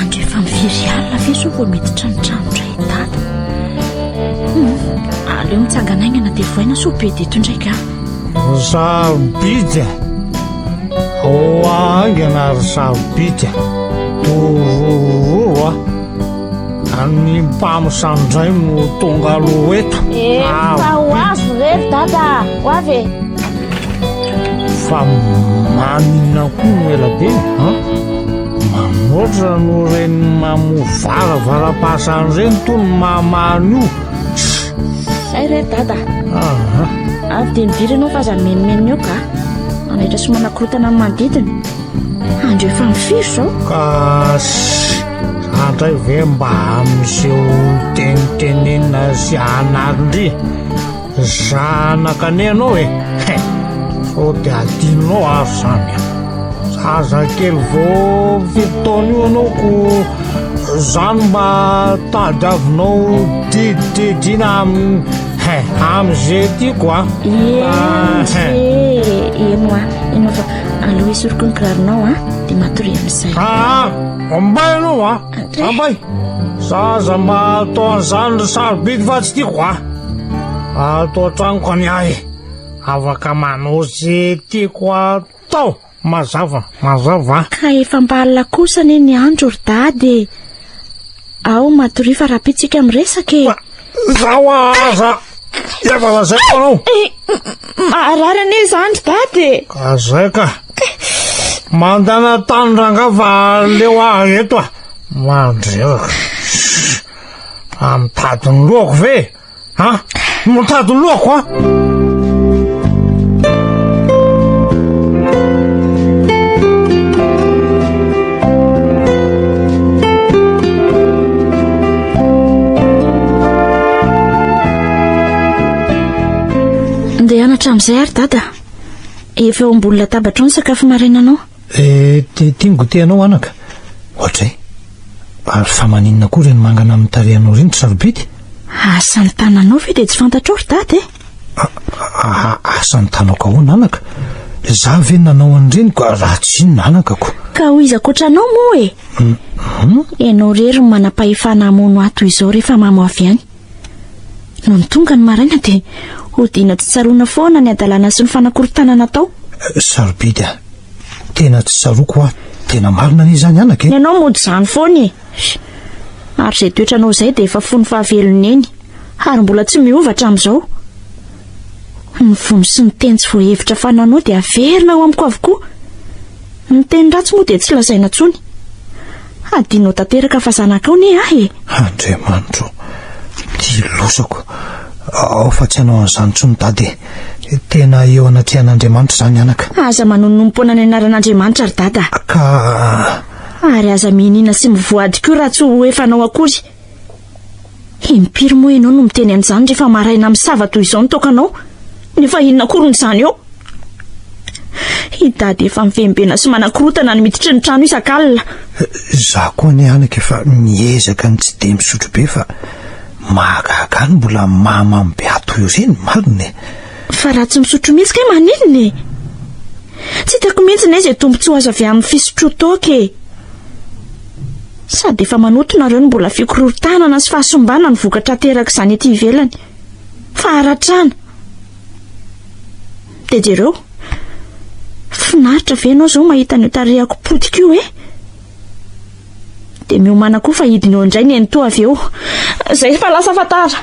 Andro efa mifiry alina ve izao vao miditra ny trano indray i Dada? Hmm, aleo mitsangana aingana dia voaina sao be dito indray ka. Ry sarobidy a! Ao aingana ry sarobidy a! Torororo a! An'ny mpamosavy indray no tonga aloha eto. Efa ho avy reto dada, ho avy e. Fa manina koa no ela be ha? Manoatra no reny mamo varavaram-pasany reny to ny mahamahany io. Zay reto dada. Aha. Avy dia miviry ianao fa aza mimenomenona eo ka. Manaitra sy manakorotana ny manodidina. Andro efa amin'ny firy izao? Ka Andray ve mba amin'izeo tenitenenina sy anarindry zanaka nenao e eh? sao de adinonao ary zany zaza kely vao fitotaona io anao ko zany mba tadiavinao didididina aminy eh, am'izay tiako a ah, eh. eno a ianao fa aloha esoriko ny kiraronao a de matory amin'izay aa ah, Ambay anao a! Ambay! Za aza mba atao an'izany ry sarobidy fa tsy tiako a! Ato an-tranoko ny ahy, afaka manao ze tiako atao, mazava, mazava. Ka efa mba alina kosa anie ny andro ry dada e! Ao matoria fa rahampitso ika miresaka e! Izaho aza efa lazaiko anao. Maharary anie izany ry dada e. Ka zay ka. Mandana tany ranga fa aleo aho eto ah. Mandreraka. Fa mitady ny lohako ve? Ha? Mitady ny lohako ah. Ndeha hanatra amin'izay ary dada. Efa eo ambony latabatra ao ny sakafo marainanao. Eh, tia ny goûter anao anaka. Ohatray. Ary fa maninona koa ireny mangana amin'ny tarehanao ireny ry sarobidy? Asa ny tananao ve dia tsy fantatrao ry dada e? Aa asa ny tanako ahoana anaka? Za ve nanao an'ireny ka raha tsy inona anaka ko. Ka ho iza koatra anao moa e? Hum. Ianao irery no manam-pahefana hamono ahy toy izao rehefa mamo avy any. Nony tonga ny maraina dia hodiana tsy tsaroana foana ny hadalana sy ny fanakorontanana atao. Sarobidy a! Tena tsy tsaroako hoa, tena marina anie izany anaka e! Ianao mody izany foana e! Ary izay toetranao izay dia efa fony fahavelon'ny eny. Ary mbola tsy miova hatramin'izao. Ny vono sy ny teny tsy voahevitra fananao dia averina ao amiko avokoa. Ny teny ratsy moa dia tsy lazaina intsony. Hadinonao tanteraka fa zanakao ne aho e! Andriamanitro, dilosako, ao fa tsy hanao an'izany intsony Dada e! Tena eo anatrehan'Andriamanitra izany anaka. Aza manonompoana ny anaran'Andriamanitra ry Dada. Ka. Ary aza mihinina sy mivoady koa raha tsy ho efanao akory. Impiry moa ianao no miteny an'izany rehefa maraina misava toy izao ny tokanao, nefa inona akoriny izany eo? I Dada efa mivenvena sy manakorotana ny miditry ny trano isak'alina. Izaho koa anie anaka efa miezaka ny tsy dia misotro be fa mahagaga ahy ny mbola mahamamo be ahy toy ireny, marina e! Fa raha tsy misotro mihitsy kay maninona e? Tsy hitako mihitsy anie izay tombontsoa azo avy amin'ny fisotroan-toaka e! Sady efa manoto nareo ny mbola fikorontanana sy fahasimbana ny vokatra aterak'izany ety ivelany. Faharatrana. Dia jereo. Finaritra ve ianao izao mahita an'io tarehako potika io eh? Dia miomana koa fa hidina eo indray ny eny toa avy eo. Izay fa lasa fantara.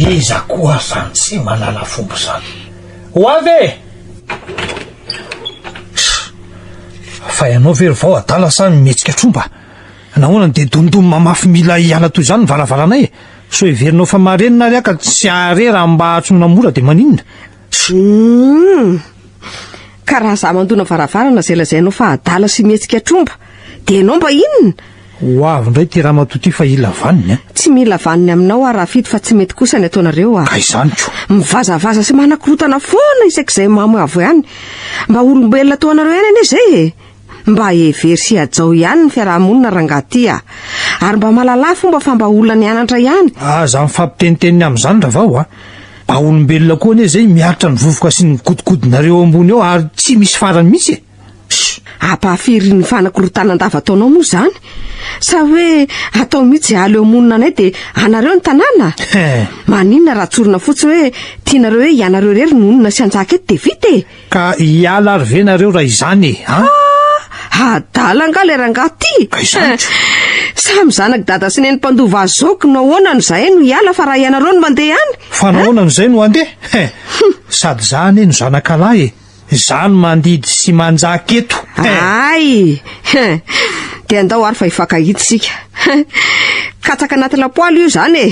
Iza koa zany tsy malala fomba zany? Ho avy e! Tch! Fa ianao ve ry vao adala sa mihetsika tromba? Nahoana no dia domidom mamafy mila hiala toy izany ny varavaranay e? Sao heverinao fa marenina ary aho ka tsy hahare raha mba atsoina mora dia maninona? Hum! Ka raha za mandona varavarana zay lazainao fa adala sy mihetsika tromba dia ianao mba inona? Ho avy indray ity ramatoa ity fa hila vaniny an! Tsy mila vaniny aminao aho Rafito fa tsy mety kosa ny ataonareo a! Ka izany ko! Mivazavaza sy manakorotana foana isak'izay mamo avo ihany! Mba olombelona toa anareo ihany anie izay e! Mba hevero sy hajao ihany ny fiaraha-monina rangaha ty a! Ary mba malalà fomba fa mba olona nianatra ihany! Aza mifampitenitenina amin'izany ravao a! Mba olombelona koa anie izay miaritra ny vovoka sy ny mikotikodinareo eo ambony eo ary tsy misy farany mihitsy e! Sh! Ampahafiry ny fanakorotanan-dava ataonao moa izany? Sa hoe atao mihitsy aly eo monina anay dia anareo ny tanàna? Maninona raha tsorina fotsiny hoe tianareo hoe ianareo irery no honina sy hanjaka eto dia vita e! Ka hiala ary ve nareo raha izany e? Ah! Adala angaha ilay rangaha ty? Ka izany ka. Samy zanak'i dada sy neny mpandova azy zao k'no ahoana no zahay no hiala fa raha ianareo no mandeha any? Fa nahoana no zay no handeha? He! Sady za anie no zanakalahy e! Za no mandidy sy manjaka eto! He! Ay! He! Dia andao ary fa hifankahita isika. He! Katsaka anaty lapoaly io izany e!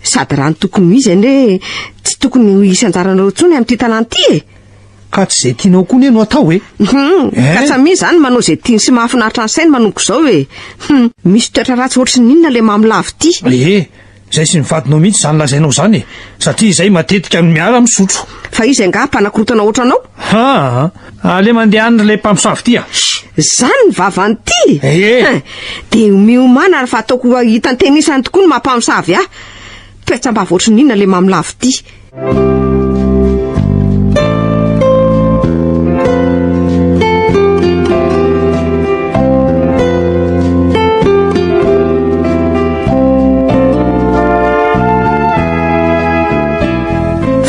Sady raha ny tokony ho izy anie tsy tokony ho isan anjaranareo intsony amin'ity tanàna ity e! Ka tsy izay tianao koa anie no atao e! Hum, eh? ka tsamia izany manao izay tiany sy mahafinaritra ny sainy manomboka izao e! Hum, misy toetra ratsy ohatry ny inona ilay Mamy Lavo ity? Ee, izay sy ny vadinao mihitsy izany lazainao izany e! Satria izay matetika no miara-misotro. Fa izy angaha mpanakorotana ohatranao? Haa! Aleo mandehana ilay mpamosavy ity a! Izany ny vavan'ity? Ee! Hein! Dia miomana ary fa ataoko ho hitan-tenisany tokoa ny maha-mpamosavy ahy. Toetsam-bava ohatry ny inona ilay mamolavo ity?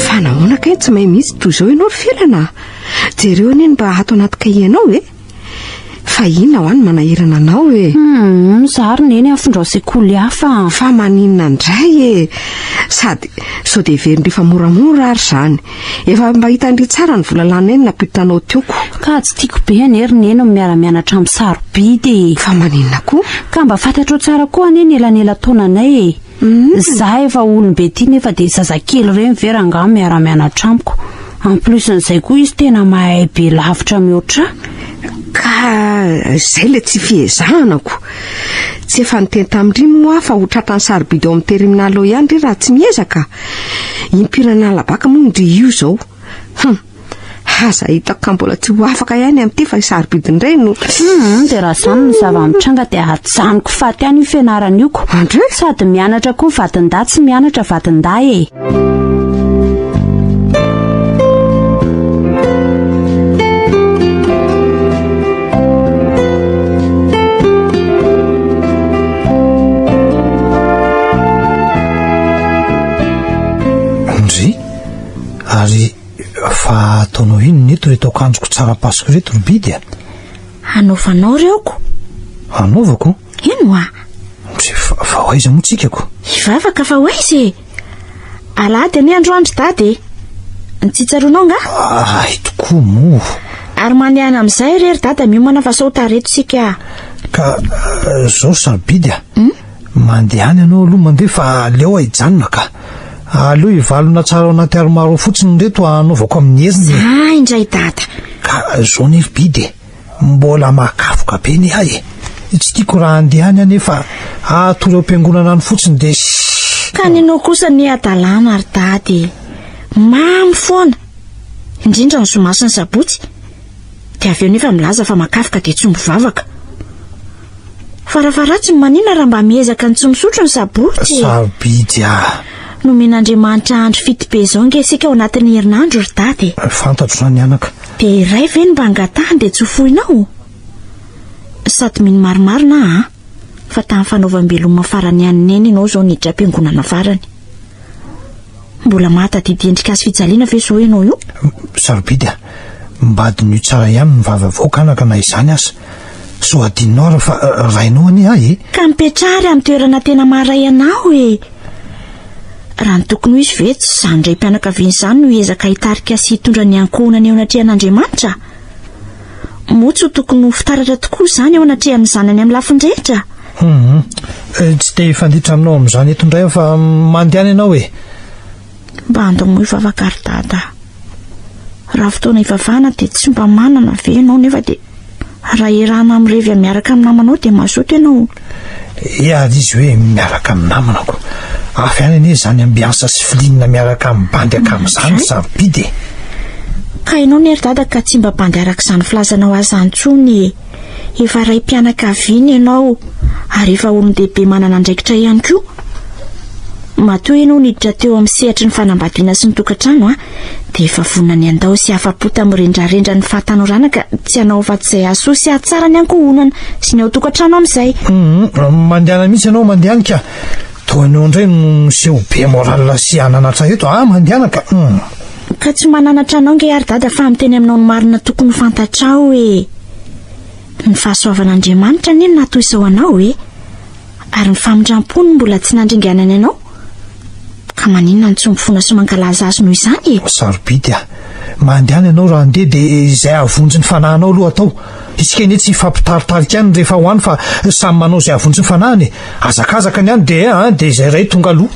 Fa nahoana kay tsy mahay mihitsy toy izao ianao ry Felana? Jereo anie ny mba ato anaty kahienao e! Fa inona hoa ny manahirana anao e? Hum, za ary neny afindrao sekoly hafa. Fa maninona indray e! Sady sao dia heveriny rehefa moramora ary izany. Efa mba hitan-dry tsara ny vola lanay no nampiotanao tioko. Ka tsy tiako be anie ry neny ny miara-mianatra amin'ny sarobidy e! Fa maninona koa? Ka mba fantatrao tsara koa anie ny elanela-taonanay e! Za efa olombe ty nefa de zazakely reny ve rangah miara mianatra amiko. En plus n'izay koa izy tena mahay be lavitra mihoatrah. Ka zay le tsy fiezahana ko. Tsy efa niteny tamindry moa fa ho tratrany sarobidy ao amin'ny terminal ao ihany ry raha tsy miezaka. Impiry an'alabaka moa ndry io zao. Hum. Aza hitako ka mbola tsy ho afaka ihany amin'ity fa isarobidin-dreny no. Hum, dia raha izany ny zava-mitranga dia hajanoko faty any io fianarana io ko. Andre? Sady mianatra koa vadindahy tsy mianatra vadindahy e. Andre? Ary Fa ataonao inona eto reto akanjoko tsara pasoka reto ry bidy a? Hanaovanao ry aoko. Hanaovako? Eny hoa. Tsy fa, fa ho aiza moa tsika ko? Hivavaka fa ho aiza e? Alahady anie androany ry dada e. Ny tsy tsaroanao nga? Ahy tokoa moa. Ary manehana amin'izay re ry dada miomana fa sao ho tara eto isika. Ka eh, zao sarobidy a. Hmm? Mandehana ianao aloha mandeha fa aleo aho hijanona ka! Aleo hivalona tsara ao anaty armoire ao fotsiny ireto hanaovako amin'ny herin'ny e! Za indray dada! Ka zao anie ry Bidy e! Mbola mahakafoka be ny ahy e! Tsy tiako raha handeha any aho nefa hahatory ao am-piangonana any fotsiny dia shhh! Ka ny anao kosa anie hadalana ry dada e! Mamy foana! Indrindra ny zoma sy ny sabotsy! dia avy eo nefa milaza fa makafoka dia tsy mivavaka. Farafaharatsiny manina raha mba miezaka ny tsy misotro ny sabotsy? Sarobidy ah! Nomen'Andriamanitra andro fito be izao ange isika ao anatin'ny herinandro ry dada e! Fantatro izany anaka. Dia iray ve no mba angatahany dia tsy ho foinao? Sady mino maromaro na an! fa tamin'ny fanaovam-beloma farany ihany neny ianao izao niditra am-piangonana farany. Mbola mahatadidy endrika azy fijaliana ve izao ianao io? Sarobidy a! Mba adinio tsara ihany ny vava avoaka anaka na izany aza. Sao adinonao ary fa rainao anie ahy e! Ka mipetraha ary amin'ny toerana tena maharay anao e! Raha ny tokony ho izy ve tsy izany raim-pianakaviana izany no hiezaka hitarika sy hitondra ny ankohonany eo anatrehan'Andriamanitra? Moa tsy ho tokony ho fitaratra tokoa izany eo anatrehan'ny zanany amin'ny lafiny rehetra? Humm. Tsy te hifanditra aminao amin'izany eto indray aho fa mandehana ianao e! Mba andomoy vavaka ry Dada. Raha fotoana hivavahana dia tsy mba manana ve ianao nefa dia raha erahana mirevy miaraka amin'ny namanao dia mazoto ianao? Eady izy hoe miaraka amin'ny namanako. Avy any anie izany ambiansa sy filinina miaraka amin'ny bandy ankamin'izany ry sarobidy e! Ka hainao ne ry dada ka tsy mba bandy araka izany filazanao azy izany intsony e! Efa raim-pianakaviana ianao ary efa olon-dehibe manana andraikitra ihany koa. Matoa ianao niditra teo amin'ny sehatry ny fanambadiana sy ny tokantrano an! dia efa vononan'i Andao sy afa-po tamin'ny rendrarendra ny fahatanorana ka tsy hanao afa-tsy izay hahasoa sy hahatsara ny ankohonana sy ny ao tokantrano amin'izay. Hum, mandehana mihitsy ianao mandehany ka! Toa anao indray no miseho be moral sy ananatra eto ah! Mandehana ka! Hum. Ka tsy mananatra anao ange ary Dada fa miteny aminao ny marina tokony ho fantatrao hoe ny fahasoavan'Andriamanitra anie no nahatoy izao anao e! Ary ny famindram-po no mbola tsy nandringanany anao? Ka maninona no tsy mifona sy mankalaza Azy noho izany e? Sarobidy a! Mandehana ianao raha handeha dia izay hahavonjy ny fanahinao aloha atao. Isika anie tsy hifampitaritarika any rehefa ho any fa samy manao izay hahavonjy ny fanahiny e! Hazakazaka ny any dia dia izay iray tonga aloha.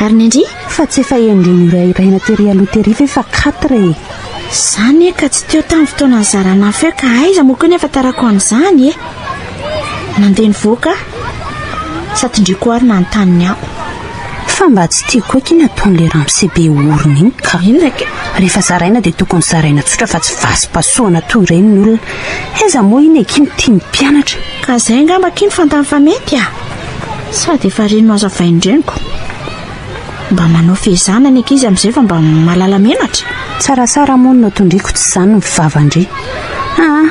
Ary ny ndry fa tsy efa indroa norahirahina tery aloha tery ve fa quatre e. Zany e ka tsy teo tamin'ny fotoana nizarana afo eo ka aiza moa koa ny ahafantarako an'izany e. Nandeha nivoaka aho sa tindriko ary nanontany ny ahy. Fa mba tsy tiako koa akia ny ataon'ilay ramose be orona iny ka. Inona kay? Rehefa zaraina dia tokony zaraina tsotra fa tsy vasim-pahasoana toa ireny ny olona. Aiza moa iny akia no tian'ny mpianatra. Ka izay angamba akia no fantany fa mety a. Sady efa reny nohazavain'ny reniko. Mba manao fehezana ny ankizy amin'izay fa mba mahalala menatra. Tsaratsara moa ny notondriako tsy izany ny fivavan-dry. Aa,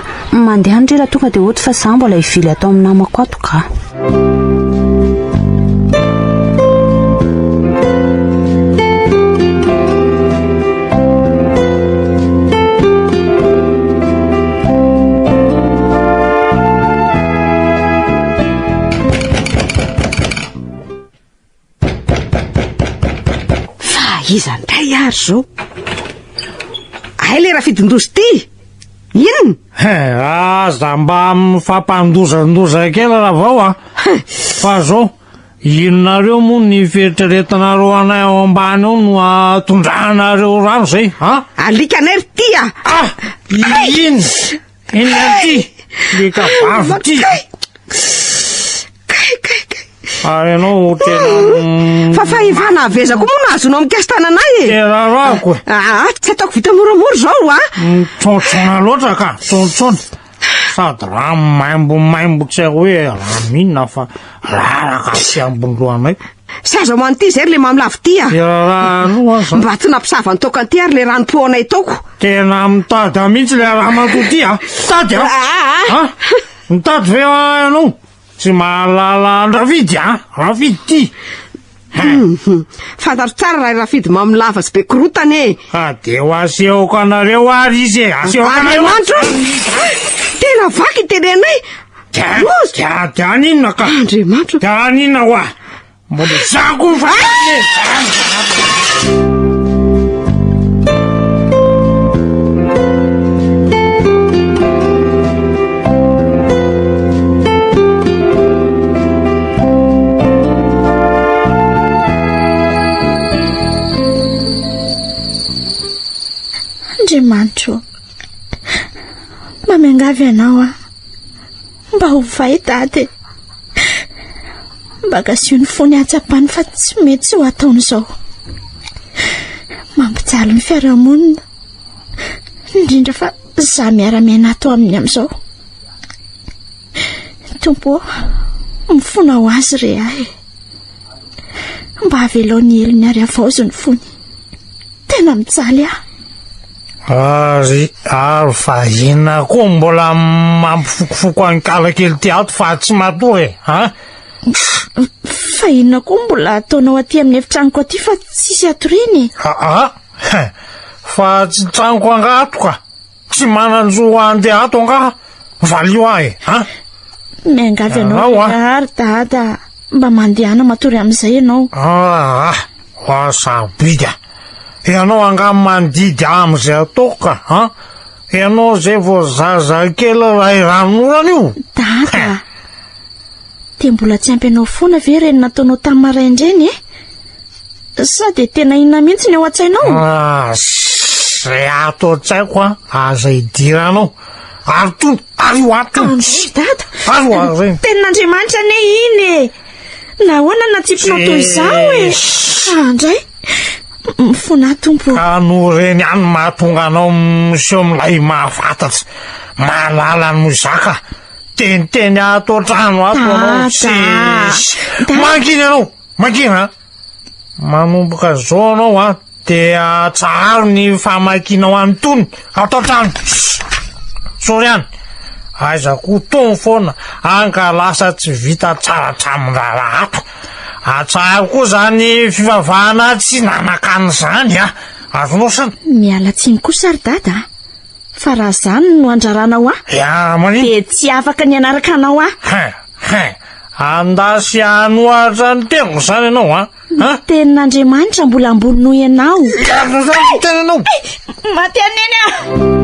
mandeha any re raha tonga dia hody fa izaho mbola hivily atao amin'ny namako ato kah. Fa iza ndray ary zao? Hay le rafidin-doza ity! Inona? He, aza mba mifampandozandoza kely ravao a! Fa zao, inonareo moa ny fieritreretanareo anay ao ambany ao no atondranareo rano zay, an? Alikanay ry ty a! Ah! Inona? Enga aty le kabavy ty. Kay kay kay. Ary ianao tena mm, Fa fahefana aveza koa moa no azonao mikasy tananay e. tena rako e. Ah, ah, tsy ataoko vita moramora izao ah. Mitsontsoana loatra ka, mitsontsoana. Sady raha maimbo maimbo tsy hoe raha minina fa raraka aty ambony lohanay. Sa aza hoan'ity izay ry le mamy lavo ty a! Dia raha aloha aza. Mba tsy nampisava ny toaka ty ary le rano po anay taoko. Tena mitada mihitsy le ramatoa ty a! Mitady a! Ah, ah, ah. Ha? Mitady ve ah, ianao? Tsy mahalala an-dRafidy a! Rafidy ty! Mhm. Fantatro tsara raha i Rafidy mamy lava sy be korotana e! Ka dia ho asehoko anareo ary izy e! Asehoko anareo! Andriamanitra o! Tena vaky ny tenenay! Dia dia aninona ka? Andriamanitra. Dia aninona wa? Mbola zako fa. Andriamanitra. Mamiangavy ianao aho. Mba ovay Dada e! Mba gaziho ny fony hahatsapany fa tsy mety izao ataony izao. Mampijaly ny fiarahamonina, indrindra fa izaho miara-miaina ato aminy amin'izao. Tompo ô, mifona ho azy re ahy e! Mba avelao ny helony ary avaozo ny fony. Tena mijaly ahy. Ary ary vahina koa mbola mampifokofoko any kala kely ty ato fa tsy matory e. Ha? Fa inona koa mbola ataonao aty amin'ny efitranoko aty fa tsisy atoriana e. Ah, ah. Fa tsy tranoko angatoka. Tsy manan-jo handeha ato angaha? Valio ahy e! Ha? Miangavy anao Ianao, ah. lehilahy ry dada mba mandehana matory amin'izay ianao. Ah ah! Hoa sarobidy ah! Ianao angaha mandidy ahy amin'izay ataoko ka, ha? Ianao izay vao zazakely iray ran'orana io! Dada! Dia mbola tsy ampy anao foana ve ireny nataonao tamin'ny maraina ireny e? Sao dia tena inona mihitsy ny ao an-tsainao? Ah, Izay ato an-tsaiko an, aza idiranao. Ary tony, ary io ato. Androy dada. Ary io ary ireny. Tenin'Andriamanitra anie iny e. Nahoana no natsipinao toy izao e? Andray. Mifonà tompo. Ka no ireny ihany mahatonga anao miseho milay mahafantatsa. Mahalala no zaka. Teniteny ato an-trano ato ianao. Dada. Tsisy. Dada. Mangina ianao. Makina a! Manomboka zao anao a, dia atsaharo ny famakianao an'itony ato an-trano. Sorry an! Aiza koa itony foana, hany ka lasa tsy vita tsara hatramin'ny raharaha ato. Atsaharo koa izany fivavahana tsy nanakana izany a! Azonao sa? Miala tsiny kosa ry dada a! Fa raha izany no andraranao ahy, dia tsy afaka ny hanaraka anao aho. Hein! Anda sy hanohatra ny tenako izany ianao an! Ny tenin'Andriamanitra mbola ambony noho ianao! Miarina izany ny tenanao! Maty an'i Neny aho!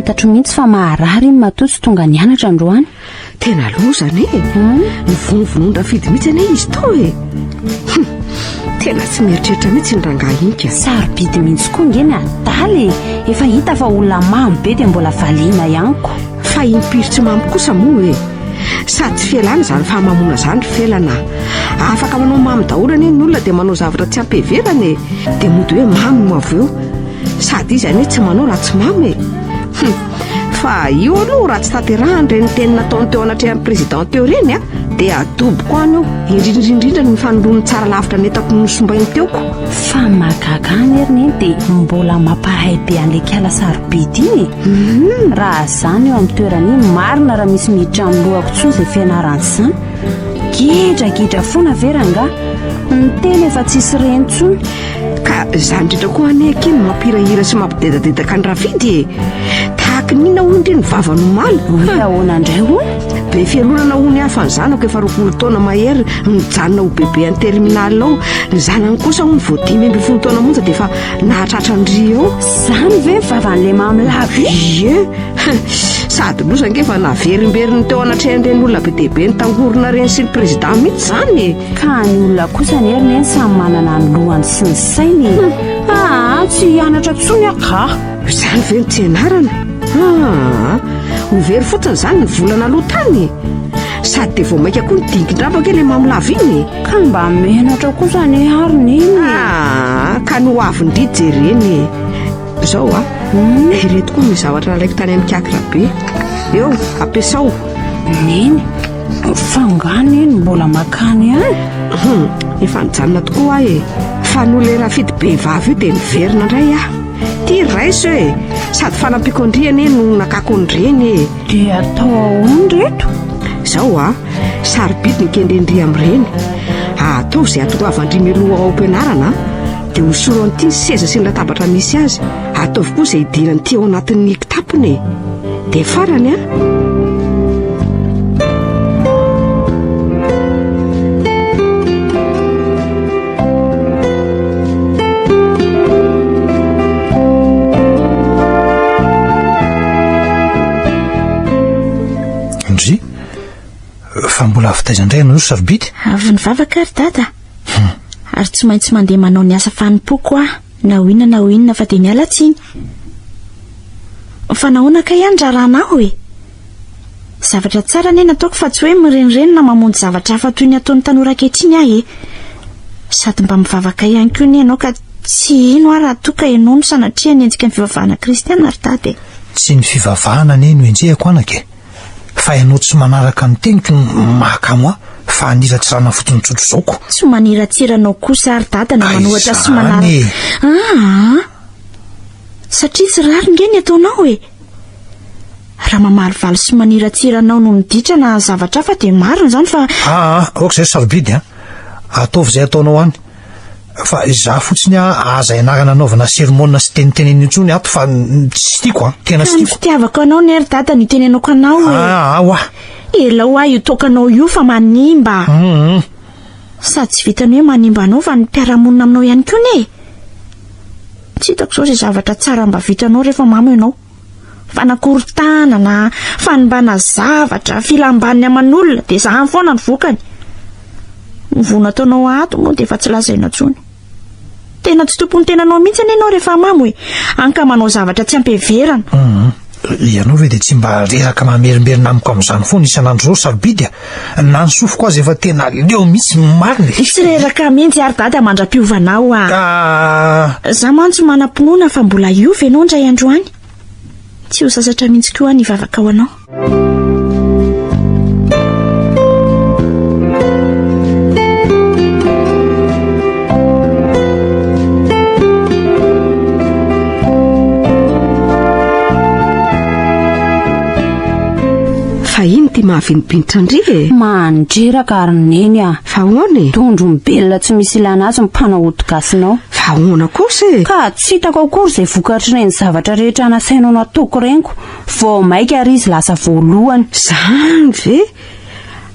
fantatro mihitsy fa maharary iny matoa tsy tonga nianatra androany Tena loza anie e. Hmm? Nivonovonon-drafidy mihitsy anie izy to e. Hmm. Tena tsy mieritreritra mihitsy ny rangahy iny ka. Sarobidy mihitsy koa nge ny adala e. Efa hita fa olona mamy be dia mbola valiana ihany ko. Fa impiry tsy mamy kosa moa e. Sady tsy fialana izany fahamamoana izany ry felana. Afaka manao mamy daholo anie ny olona dia manao zavatra tsy ampiheverana e. Dia mody hoe mamy no avy eo. Sady izy anie tsy manao raha tsy mamy e. Hmm. Fa io aloha raha tsy tanterahan'ireny teny nataony teo anatrehan'ny président teo ireny a, dia adoboko any io, indrindraindrindra ny fanoloany tsara lavitra ny entako nosombainy teoko. Fa ny mahagaga any ery neny dia mbola mampahay be an'ilay kiala sarobidy iny e! Mhm. Raha za no eo amin'ny toerany iny, marina raha misy miditra amin'ny lohako intsony izay fianarana izany. Gidragidra foana ve rangaha? Ny tena efa tsisy reny intsony. Ka za indrindra koa anie akia no mampirahira sy mampidedadedaka ny rafidy e Tahaka ny inona hoy indry ny vava no maly Hoe ahoana indray hoy? Be fialonana hoy ny hafa ny zanako efa roapolo taona mahery Nijanona ho bebe any terminal ao Ny zanany kosa hoy vao dimy ambin'ny folo taona monja dia efa nahatratra ny ry eo Izany ve vavan'ilay mamy lava iny? Ie Sady loza ange fa naverimberin'ny teo anatrehan'ireny olona be dia be nitangorona ireny sy ny président mihitsy izany e Ka ny olona kosa anie ry neny samy manana ny lohany sy ny sainy e. Aa tsy hianatra intsony aho ka. Izany ve no tsy ianarana? Aa ho very fotsiny izany ny volana aloha tany e. Sady dia vao mainka koa nidingindrabaka ilay mamolava iny e. Ka mba menatra kosa anie aho ry neny e. Aa ka ny ho avin-dry jerena e. Izao a, ireto koa ny zavatra nalaiko tany amin'ny kiakirabe. Eo, ampiasao. Neny. F'angaha anie no mbola makany an? Efa nijanona tokoa aho e. Fa noho ilay rafidy be vava io dia niverina indray aho. Ty raiso e! Sady fanampiako an-dry anie no nakako an-dreny e! Dia atao ahoana ry reto? Izao an, sarobidy ny kendren-dry amin-dreny. Ataovy izay hahatongavan-dry mialoha ao am-pianarana an! Dia hosoro an-ty ny seza sy ny latabatra misy azy. Ataovy koa izay hidiran'ity ao anatin'ny kitapony e! dia farany an fa mbola avy taiza indray ianao ry sarobidy avy nivavaka ary dada Ary tsy maintsy mandeha manao ny asa fanompoako aho, na ho inona na ho inona fa dia miala tsiny. Fa nahoana kay aho ny raharaha anao e? Zavatra tsara anie nataoko fa tsy hoe mirenireny na mamonjy zavatra hafa toy ny ataon'ny tanora ankehitriny aho e. Sady mba mivavaka ihany koa anie ianao ka tsy hino aho raha toa ka ianao no sanatria hanenjika ny fivavahana kristiana ry dada e. Tsy ny fivavahana anie no enjehiko anaka e. fa ianao tsy manaraka ny teniko no maka moi fa haniratsirana fotsiny tsotro zao ko. Tsy maniratsira anao kosa ary dada na manohatra sy manaraka. Izany e. Aa! Satria tsy rariny nge ny ataonao e. Raha mamalivaly sy maniratsira anao no miditra na zavatra hafa dia marina izany fa. Aa! Aoka izay sarobidy a. Ataovy izay ataonao any. Fa izaho fotsiny a, aza ianarana anaovana sermona sy tenitenena intsony ato fa tsy tiako a, tena tsy tiako. Ka ny fitiavako anao ne ry dada no itenenako anao e. Ah, ah, wa. Elao aho io toakanao io fa manimba. Hum. Sady tsy vitan'ny hoe manimba anao fa ny mpiara-monina aminao ihany koa ne e. Tsy hitako izao izay zavatra tsara mba vitanao rehefa mamo ianao. Fanakorotana na fanimbana zavatra, filam-baniny aman'olona, dia izany foana ny vokany. Ny voa nataonao ato moa dia efa tsy lazaina intsony. Tena tsy tompon'ny tenanao mihitsy anie ianao rehefa mamo e. Hany ka manao zavatra tsy ampiheverana. Ianao ve dia tsy mba reraka mamerimberina amiko amin'izany foana isan'andro izao, sarobidy a! Na ny sofiko aza efa tena leo mihitsy ny marina e. Tsy reraka mihitsy ary dada mandra-piovana ao ah. Ka. Za mantsy manam-pinoana fa mbola hiova ianao indray andro any. Tsy ho sasatra mihitsy koa ny vavaka ho anao. Fa ino ty mahavinibinitra ndry e? Mandreraka ry neny a! Fa ahoana e? Dondro mibelona tsy misy ilana azy ny mpanao ody gasinao. Fa ahoana kosa e? Ka tsy hitako akory izay vokatr'ireny zavatra rehetra nasainao nataoko reniko vao maika ary izy lasa voalohany. Zany ve?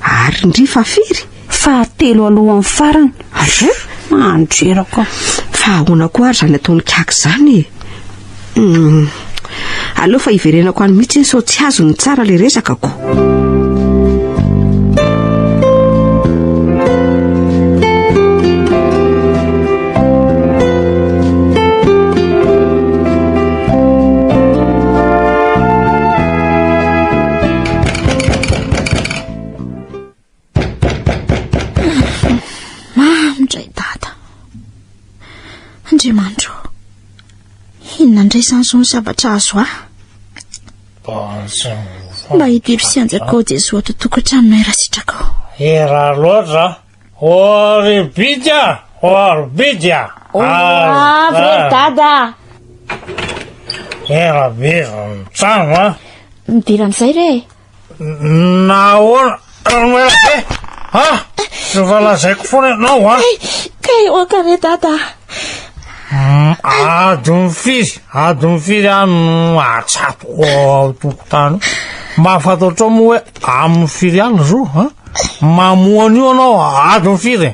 Ary ndry fa firy? Fahatelo alohan'ny farany. Aza mandreraka. Fa ahoana koa ary izany ataon'i Kaka izany e? Hmm. Aleo fa hiverenako any mihitsy sao tsy azony tsara le resakako. Mamy dray dada. Andriamanitro, inona indray izany izao ny zavatra azo ahy? Mba hidiro sy hanjakao Jesoa ato tokotranonay raha sitrakao. Hera loatra. Oribidya, oribidya. Avy re dada. Hera be ny trano a. Midira amin'izay re. Nahoana? Ranoela be! Ha? Efa lazaiko foana ianao an! Ka eo an-kare dada! Adon'ny firy? Adon'ny firy aho no atsatoka ao tokontany? Mba fantatrao moa hoe amin'ny firy aho ny zo? Mamoa an'io ianao adon'ny firy?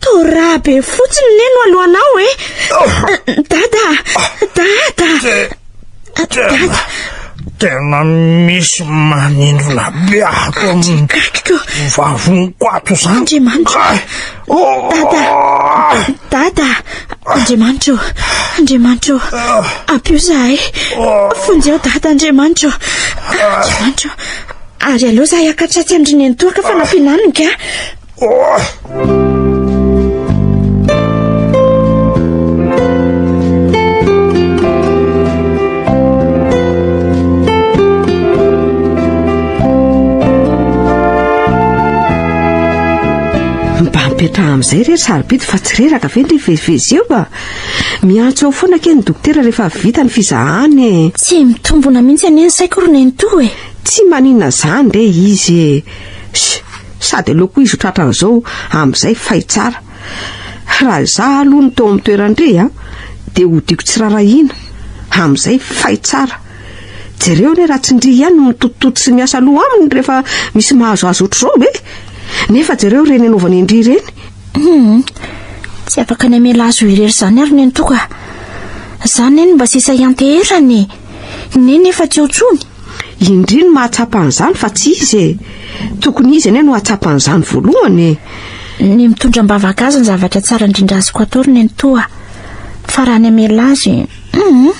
Torabe fotsiny le no alohanao e. Dada, dada. Dada. Tena misy manindrona be ato amin'ny vavoniko ato izany. Andriamanitra. Dada. Dada. Andriamanitra. Andriamanitra. Ampio zahay. Fonjeo dada Andriamanitra. Andriamanitra. Ary aleo izahay hakatratsy an-dry nenitoaka fa nampiana aminy ka. mipetraha amin'izay re ry sarobidy fa tsy reraka ve ny vezivezy eo a miantso eo foana ke ny dokotera rehefa vita ny fizahany e tsy mitombona mihitsy anie ny saiko ry nenitoa e Tsy manina zany re izy e! Sh! Sady aleoko izy ho tratran'izao amin'izay fay tsara. Raha izaho aloha no teo amin'ny toeran-dry a! dia hodiako tsy rarahiana. Amin'izay fay tsara. Jereo anie raha tsy ndry ihany no mitotitoto sy miasa loha aminy rehefa misy mahazoazo ohatr'izao e! Nefa jereo ireny anaovany an-dry ireny. Hum! Tsy afaka ny hamela azy ho irery izany ary ny antoko a! Za anie no mba sisa hianteherana e! Neny efa tsy eo tsony. Indri no mahatsapa an'izany fa tsy izy e. Tokony izy anie no hahatsapa an'izany voalohany e. Ny mitondra am-bavaka azy ny zavatra tsara indrindra azoko atao ry nenitoa. Fa raha ny hamela azy, hum,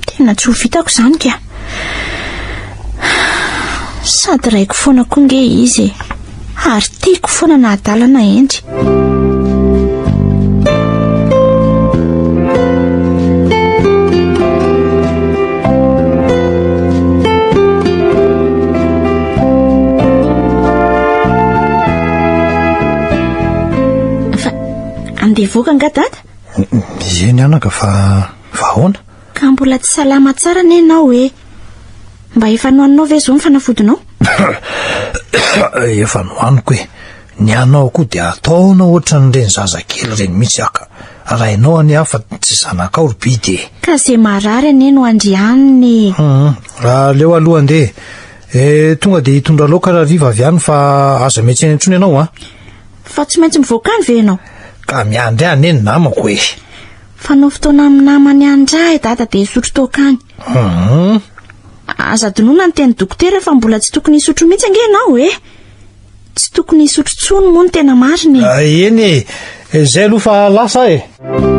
tena tsy ho vitako izany ka. Sady raiko foana koa nge izy e. ary tiako foana na adala na hendry fa andeha voaka nga dada mieny anaka fa fa ahoana Ka mbola tsy salama tsara anie ianao ê! Mba efa nohaninao ve izao ny fanafodinao? Efa nohaniko ê! Ny anao koa dia ataonao ohatran'ireny zazakely ireny mihitsy aho ka! Raha ianao anie aho fa tsy zanakao ry bidy ê! Ka izay marary anie no andrianiny ê! Hum! Aleo aloha andeha ê! Tonga dia hitondra laoka rahariva avy any fa aza miantsena intsony ianao an! Fa tsy maintsy mivoaka any ve ianao? Ka miandry ahy anie ny namako ê! Fanao fotoana amin'ny namany any ra i dada dia hisotro toaka any. Hum. Aza adinoina ny teny dokotera fa mbola tsy tokony hisotro mihitsy ange ianao e! Tsy tokony hisotro tsony moa ny tena marina e! Ah, eny e! Izay aloha fa lasa aho e!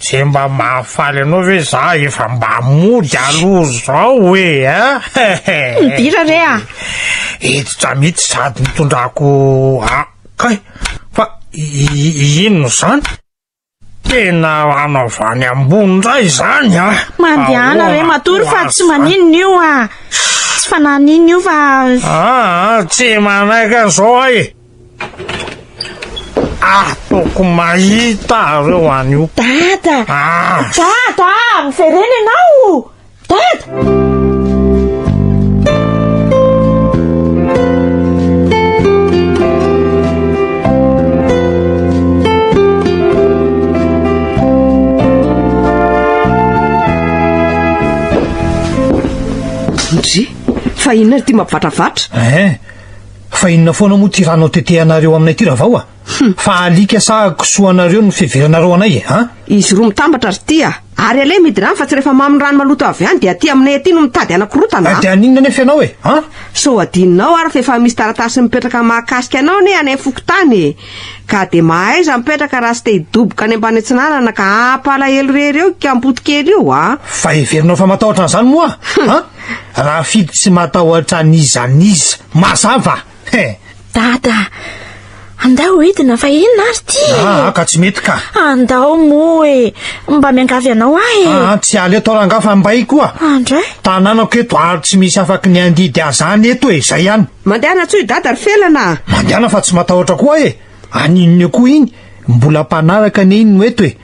Ze mba mahafaly anao ve za efa mba mody aloha zao e eh? Midira re a! Hiditra mihitsy sady nitondrako a kay fa inona izany? Tena anao avy any ambony indray izany a! Mandehana re matory fa tsy maninona io a! Tsy fanahy an'iny io fa. Aa tsy manaiky an'izao aho e! Ataoko mahita reo anio. Dada! Ah! Dada! Miverena ianao! Dada! fa inona ary ity mampivatravatra eh Fa inona foana moa ty ranao tetehanareo aminay ty ravao a! Fa alika sa kisoa anareo no fiheveranareo anay e a! Izy roa mitambatra ry ty a! Ary aleo mihidy rano fa tsy rehefa mamy ny rano maloto avy any dia aty aminay aty no mitady hanakorontana a! Dia haninona anefa ianao e a! Sao hadinonao ary fa efa misy taratasy mipetraka mahakasika anao anie any fokontany e! Ka dia mahaiza mipetraka raha tsy te hidoboka any ambany atsinanana ka hampalahelo irery eo i kampoto kely io a! Fa heverinao fa matahotra an'izany moa a! Rafidy tsy matahotra an'iza n'iza. Mazava? He! Dada, andao hidina fa inona ary ty e! Ah, ka tsy mety ka. Andao moa e! Mba miangavy anao aho e! Ah, tsy ala eto rangaha fa mbay koa. Andray? Tanànako eto ary tsy misy afaky ny handidy ahy izany eto e, izay ihany. Mandehana tsoy Dada ry Felana a! Mandehana fa tsy matahotra koa e! Any inona koa iny? Mbola mpanaraka anie iny no eto e!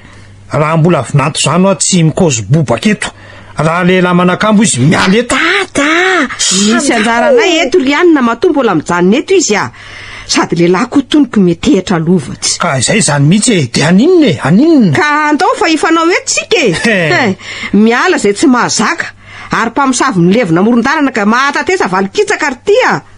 Raha mbola vinanto zany hoa tsy mikaozy bobaka eto. Raha lehilahy manakambo izy miala eto. Dada! Misy anjara anay eto ry anina matoa mbola mijanona eto izy a! Sady lehilahy koa toniko metehitra lova tsy. Ka izay izany mihitsy e! Dia any inona e? Any inona? Ka andao fa hifanao eto tsika e! He! Miala izay tsy mahazaka! Ary mpamosavy milevina amoron-dalana ka mahatatesa valin-kitsaka ry ty a!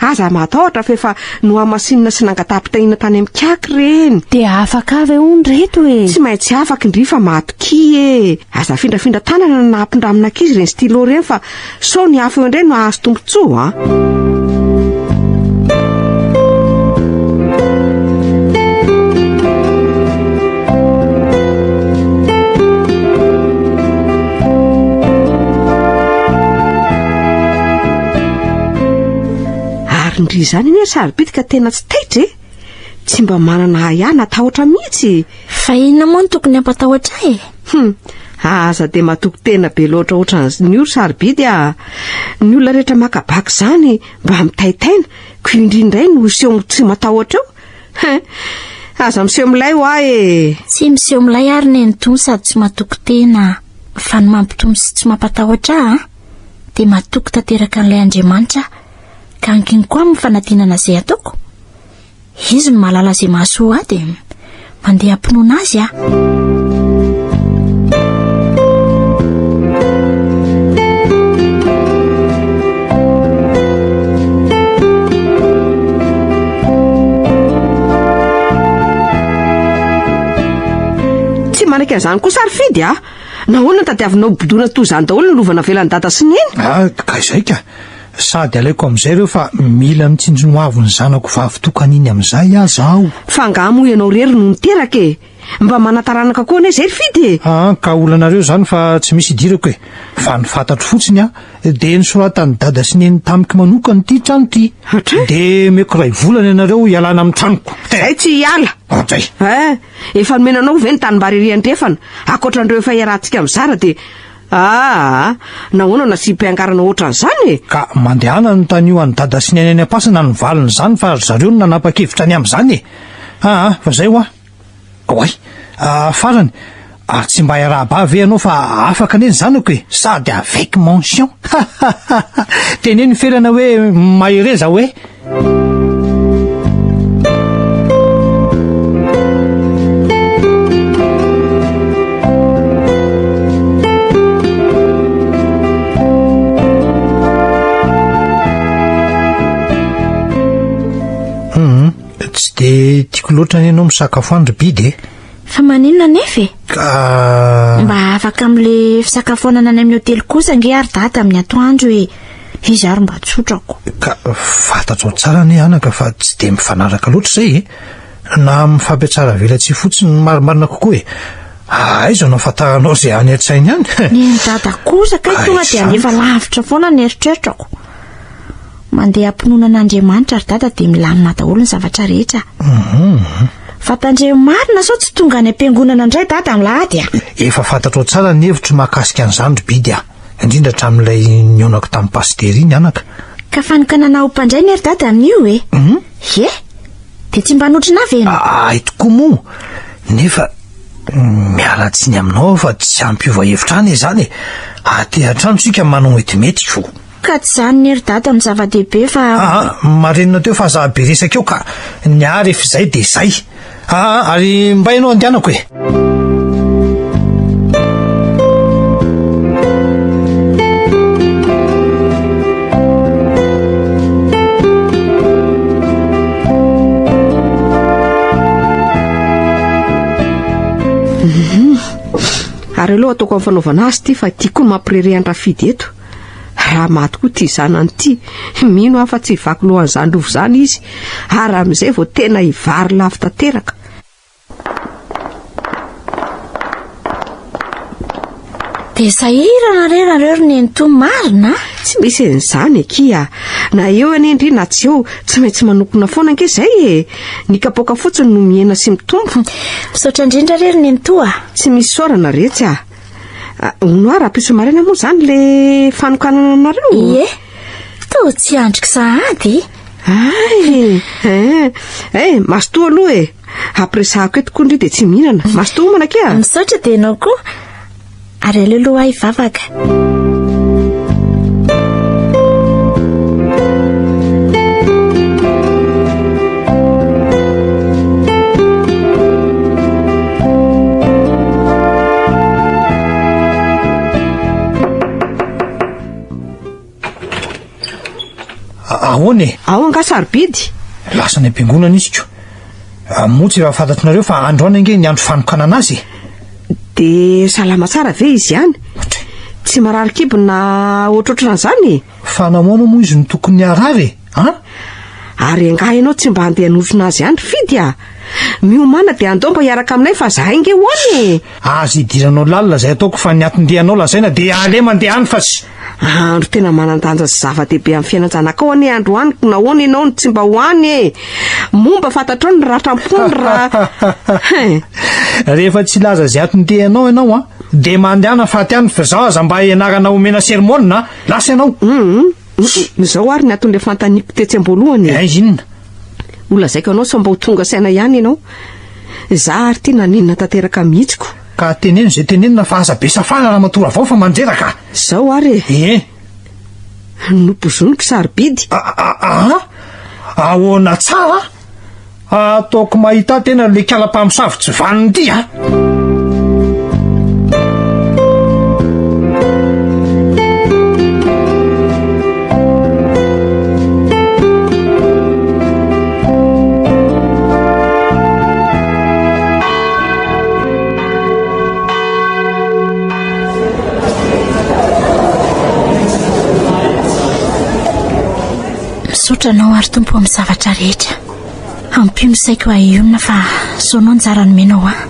Aza matahotra fa efa nohamasinina sy nangataham-pitahiana tany amin'ny CAC ireny. Dia afaka avy hono reto e! Tsy maintsy afaka indry fa matokia e! Aza afindrafindra tanana na ampindramina ankizy ireny stylo ireny fa sao ny hafa eo indray no hahazo tombontsoa an! Ary ndry izany anie sarobitika tena tsy taitra e! Tsy mba manana ahy ahy natahotra mihitsy e! Fa inona moa no tokony hampatahotra ahy e? Hum, aza dia matoky tena be loatra ohatran'izny io ry sarobidy a! Ny olona rehetra maka bac izany mba mitaitaina, ko indry indray no hiseho ho tsy matahotra eo? Hein! Aza miseho milay ho ahy e! Tsy miseho milay ary nenitoa sady tsy matoky tena, fa ny mampitony sy tsy mampatahotra ahy a! dia matoky tanteraka an'ilay Andriamanitra aho, ka ankiny koa amin'ny fanadinana izay ataoko. Izy no mahalala izay mahasoa ahy dia mandeha am-pinoana Azy aho. Tsy manaiky an'izany kosa ary Fidy a! Nahoana no tadiavinao hobodoina toa izany daholo ny lova navelan'i Dada sy Neny? Ah, ka izay ka! Sady alaiko amin'izay ireo fa mila mitsinjo ny hoavin'ny zanako vavitokana iny amin'izay aza aho. Fa angaha moa ianao irery no niteraka e! Mba manataranaka koa anie izay ry Fidy e! Ah, ka olanareo izany fa tsy misy idirako e! Fa ny fantatro fotsiny an, dia nosoratan'i Dada sy Neny tamiko manokana ity trano ity. Hatray! Dia omeko iray volana ianareo hialana amin'ny tranoko. Te! Izay tsy hiala! Hatray! Eh! Efa nomena anao ve ny tanimbary ery andrefana? Ankoatra an'ireo efa iarahantsika mizara dia Aa! Nahoana no nasiam-piangarana ohatran'izany e? Ka mandehana anontanio an'i Dada sy Neny any am-pasana ny valin'izany fa ry zareo no nanapa-kevitra ny amin'izany e! Aa! Fa izay hoa! Oay! Aa! Farany! Ary tsy mba iarahaba ve ianao fa afaka anie ny zanako e, sady avec mention. Teneno felana hoe mahereza hoe. Tsy dia tiako loatra anie ianao misakafo any ry Bide e! Fa maninona anefa e? Ah. Mba afaka amin'le fisakafoanana any amin'ny hotely kosa ange ary dada amin'ny atoandro e. Izy ary mba tsotrako. Ka fantatrao tsara anie anaka fa tsy dia mifanaraka loatra izay e. Na amin'ny fampiatsara velatsihy fotsiny no marimarina kokoa e. Aiza no afantaranao izay any an-tsainy any? Ny an'i dada kosa kay Ah, tonga dia izany alefa ka. lavitra foana ny eritreritrako. Mandeha am-pinoana an'Andriamanitra ry dada dia milamina daholo ny zavatra rehetra. Mhm. Fa tandremo marina sao tsy tonga any am-piangonana indray dada Milahady a! Efa fantatrao tsara ny hevitro mahakasika an'izany ry Bidy a! Indrindra hatramin'ilay nionako tamin'i Pasitera iny anaka. Ka fanokanana ho mpandray ne ry dada amin'io e! Ye! Dia tsy mba notrona ve ianao? Ahay tokoa moa! Nefa miala tsiny aminao aho fa tsy hampiova hevitra an izany e! Aty an-trano isika manao ny mety mety ko! Ka tsy zany ne ry dada no zava-dehibe fa. Aa marenina teo fa za be resaka eo ka ny ahy ref zay de zay aa ary mbay anao andianako e. Ary aleo ataoko amin'ny fanaovana azy ity fa ity koa mampirerehan-drafidy eto. Raha maty koa ity zanany ity, mino aho fa tsy hivaky lohan'izany rova izany izy, ary amin'izay vao tena hivary lafo tanteraka. Dia sahirana re nareo ry nenitoa marina a! Tsy misy an'izany akia a! Na eo anie ndry na tsy eo, tsy maintsy manompona foana ange izay e! Ny kapoaka fotsiny no mihena sy mitombo. Misaotra indrindra re ry nenitoa a! Tsy misy isaorana retsy a! Hono ah, rahampitso maraina moa izany le fanokanana anareo? Ie, toa tsy andriko sahady. Ay, eh, eh, mastoa aloha e. Ampiresahako eto koa ndry dia tsy mihinana. Mastoa homana kea. Misaotra dia ianao koa. Ary aleo aloha ahy vavaka. ahoana e ao anga sarobidy lasa ny am-piangonana izyko ah, moa tsy efa fantatrinareo fa androany ange ny andro fanokanana azy e. dia salama tsara ve izy ihany tsy marary kibona ohatrohatran'izany e. fa namoana moa izy no tokony harary e. An? Ary angaha ianao tsy mba handeha hanotrona azy ihany ry Fidy a? Miomàna dia andao mba hiaraka aminay fa zahay ange ho any e! Aza idiranao lalina izay ataoko fa ny atin-dehanao lazaina dia aleha mandeha any fa tsy... Andro tena manan-danja sy zava-dehibe amin'ny fiainan-janakao anie androany ka nahoana ianao no tsy mba ho any e? Momba fantatrao ny ratra am-pony raha... Rehefa tsy hilaza izay atin-dehanao ianao an, dia mandehana faty any fa izaho aza mba ianarana omena sermonina a! Lasa ianao! Izao ary ny anton'ilay fanontaniako tetsy am-boalohany e. Aiza inona? Holazaiko anao sao mba ho tonga saina ihany ianao. Izaho ary ity naninona tanteraka mihitsy ko. Ka teneno izay tenenina fa aza be safana Ramatoa Ravao fa mandreraka a! Izao ary e. Ie. Nopozoniko sarobidy. A-a-a-a? Ahoana tsara? Ataoko mahita tena le kala mpamosavy tsy vaniny ty a! Misaotra anao ary Tompo amin'ny zavatra rehetra. Ampio ny saiko hahionona fa zao no anjara nomenao ahy.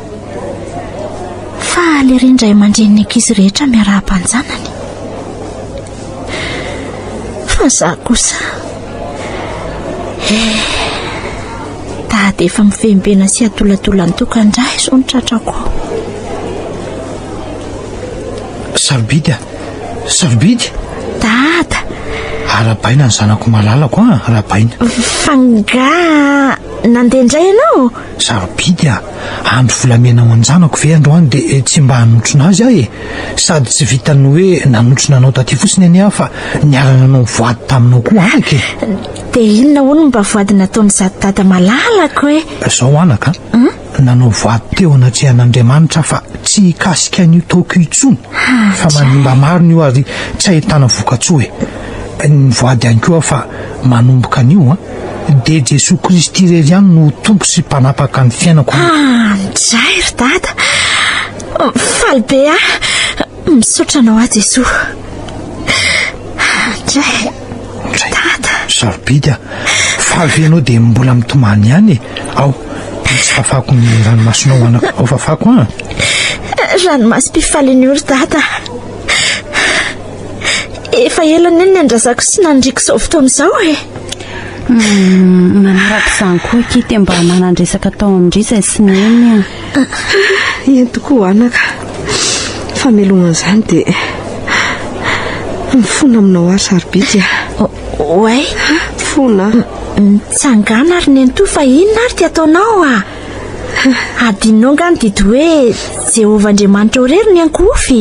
Faly ery ny ray aman-drenin'ny ankizy rehetra miarahaba an-janany. Fa za kosa. Eh, dada efa mivembena sy adoladola ny tokan-dra izao ny tratrako. Sarobidy a! Sarobidy? Dada! Arabaina ny zanako malalako an, ah, arabaina. Fa nga nandeha indray ianao? Sarobidy a, ah. andro volamena ho an-janako ve androany dia eh, tsy mba hanotrona azy aho e. Eh. Sady tsy vitan'ny hoe nanotrona anao taty fotsiny anie aho fa niarana anao voady taminao koa anaka e. Dia inona hono mba voady nataon'izato dada malalako e? Zao anaka. Hmm? nanao voady teo anatrehan'Andriamanitra fa tsy hikasika an'io taoko io intsony fa manimba maro ny io ary tsy ahitana vokatsoa e. Ny voady ihany koa fa manomboka an'io an. Dia Jesoa Kristy irery ihany no Tompo sy Mpanapaka ny fiainako. Midray ry Dada. Faly be aho. Misaotra anao aho Jesoa. Andray. Andray. Dada. Sarobidy ah. Faly ve ianao dia mbola mitomany ihany e. Ao, tsy fafako ny ranomasonao anako. Ao fafako an. Ah. Ranomasom-pifalian'io ry dada. Efa ela ny ny andrazako sy nandriko izao fotoana izao e. Hmm, manaraka izany koa kity mba manandresaka tao amin-dry izay sy neny. Aa eny tokoa anaka, ny famelohana an'izany dia mifona aminao ary sarobidy a. Oay, fona. Mitsangana ary nenitoa fa inona ary dia ataonao a? Adinonao nga ny didy hoe Jehovah Andriamanitrao irery ny ankohofy.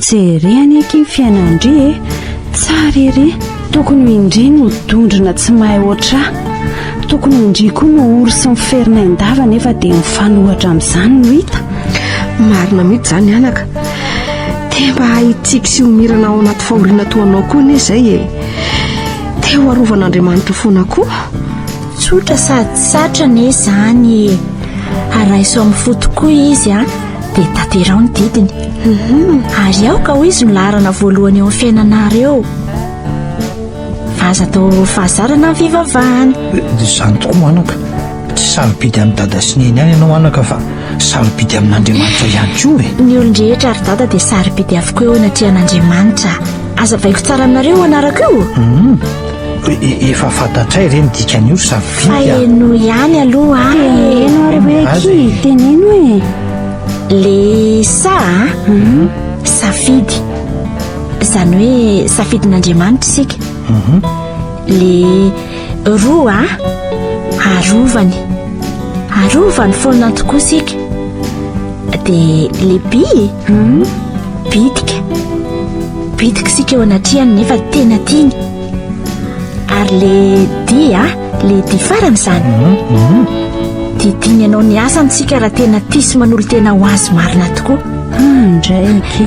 Jereny aky ny fiainandry e. Tsara ery. Tokony ho indry no dondrona tsy mahay oatra. Tokony ho indry koa no ory sy ny ferina indava nefa dia mifanohatra amin'izany no hita. Marina mihitsy izany anaka. Te mba hahitsiky sy homirana ao anaty fahoriana toa anao koa anie izay e. Te ho arovan'Andriamanitra foana koa. Tsotra sady satrana izany e. Araiso amin'ny fo tokoa izy a. dia taterao ny didiny mhm. ary aoka ho izy no laharana voalohany eo amin'ny fiainanareo fa aza atao fahazarana ny fivavahana eh, dia izany tokoa anaka tsy sarobidy amin'ny dada sy neny any ianao anaka fa sarobidy amin'andriamanitra ihany koa e ny olon-drehetra ary dada dia sarobidy avokoa eo anatrehan'andriamanitra aza vaiko tsara aminareo ho anarako io mhm. Efa fantatray re ny dikan'io sa vita? Faheno ihany aloha a. Heno ary hoe aky, teneno e. Le sa a? Mhm. Safidy. Izany hoe safidin'Andriamanitra isika. Mhm. Le roa a. Arovany. Arovany foana tokoa isika. Dia lehibe e Hum, bitika Bitika isika eo anatrehany nefa tena tiany Ary le dia ah, le dia farany izany Dia tiany anao ny asany isika raha tena tia sy manolo-tena ho azy marina tokoa Indraiky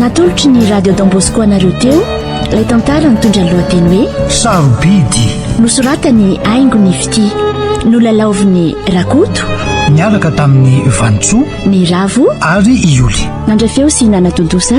natolotry ny radio dambosco anareo teo lay tantara nitondra ny lohateny hoe sarobidy nosoratany aingo ny fiti nolalaoviny rakoto niaraka tamin'ny vanitsoa ny ravo ary ioly nandray feo sy nanatontosa